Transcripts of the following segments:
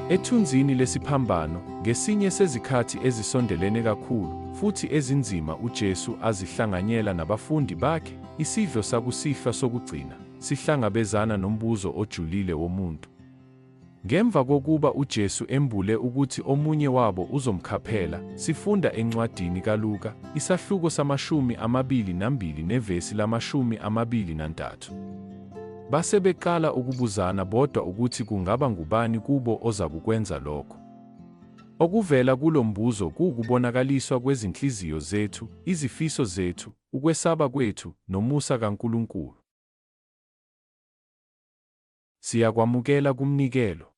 Ethunzini lesiphambano, ngesinye sezikhathi ezisondelene kakhulu futhi ezinzima uJesu azihlanganyela nabafundi bakhe, isidlo sakusihlwa sokugcina, sihlangabezana nombuzo ojulile womuntu. Ngemva kokuba uJesu embule ukuthi omunye wabo uzomkhaphela, sifunda encwadini kaLuka, isahluko samashumi amabili nambili nevesi lamashumi amabili nantathu. Base beqala ukubuzana bodwa ukuthi kungaba ngubani kubo ozakukwenza lokho. Okuvela kulo mbuzo kuwukubonakaliswa kwezinhliziyo zethu, izifiso zethu, ukwesaba kwethu, nomusa kaNkulunkulu. Siyakwamukela kumnikelo.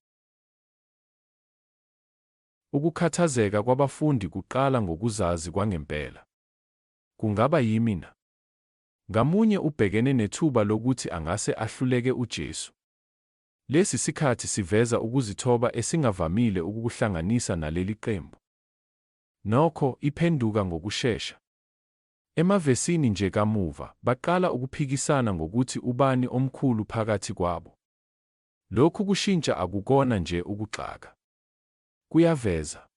Ukukhathazeka kwabafundi kuqala ngokuzazi kwangempela. Kungaba yimi na? Ngamunye ubhekene nethuba lokuthi angase ahluleke uJesu. Lesi sikhathi siveza ukuzithoba esingavamile ukukuhlanganisa naleli qembu. Nokho, iphenduka ngokushesha. Emavesini nje kamuva, baqala ukuphikisana ngokuthi ubani omkhulu phakathi kwabo. Lokhu kushintsha akukona nje ukugxaka. Kuyaveza.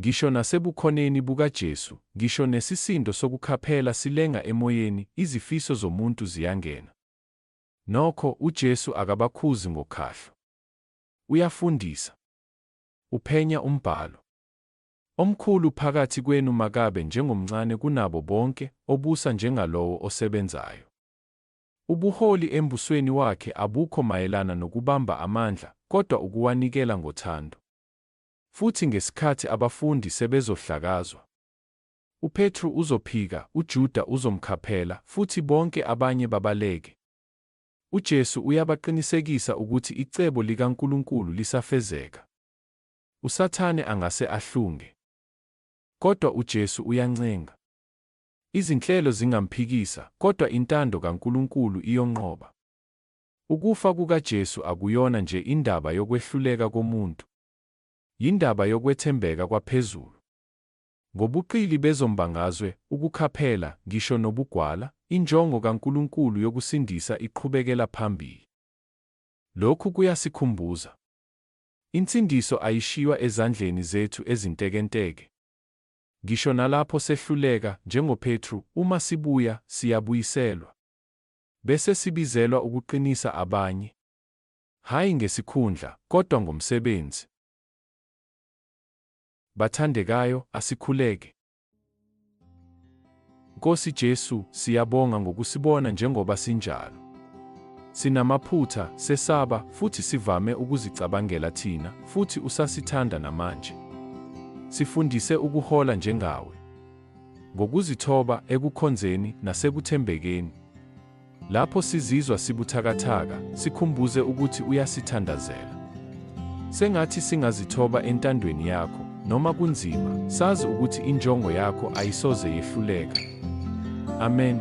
Ngisho naseBukhoneni bukaJesu, ngisho nesisindo sokukhaphela silenga emoyeni, izifiso zomuntu ziyangena. Nokho, uJesu akabakhuzi ngokhahlo. Uyafundisa. Uphenya umBhalo. Omkhulu phakathi kwenu makabe njengomncane kunabo bonke, obusa njengalowo osebenzayo. Ubuholi eMbusweni wakhe abukho mayelana nokubamba amandla, kodwa ukuwanikela ngothando. Futhi ngesikhathi abafundi sebezohlakazwa, uPetru uzophika, uJuda uzomkhaphela, futhi bonke abanye babaleke. UJesu uyabaqinisekisa ukuthi icebo likaNkulunkulu lisafezeka. USathane angase ahlunge. Kodwa uJesu uyancenga. Izinhlelo zingamphikisa, kodwa intando kaNkulunkulu iyonqoba. Ukufa kukaJesu akuyona nje indaba yokwehluleka komuntu, yindaba yokwethembeka kwaphezulu. Ngobuqili bezombangazwe, ukukhaphela, ngisho nobugwala, injongo kaNkulunkulu yokusindisa iqhubekela phambili. Lokhu kuyasikhumbuza. Insindiso ayishiywa ezandleni zethu ezintekenteke. Ngisho nalapho sehluleka, njengoPetru, uma sibuya, siyabuyiselwa. Bese sibizelwa ukuqinisa abanye, hhayi ngesikhundla, kodwa ngomsebenzi. Bathandekayo, asikhuleke. Nkosi Jesu, siyabonga ngokusibona njengoba sinjalo. Sinamaphutha, sesaba, futhi sivame ukuzicabangela thina, futhi usasithanda namanje. Sifundise ukuhola njengawe. ngokuzithoba ekukhonzeni nasekuthembekeni. Lapho sizizwa sibuthakathaka, sikhumbuze ukuthi uyasithandazela. Sengathi singazithoba entandweni yakho, noma kunzima, sazi ukuthi injongo yakho ayisoze yehluleka. Amen.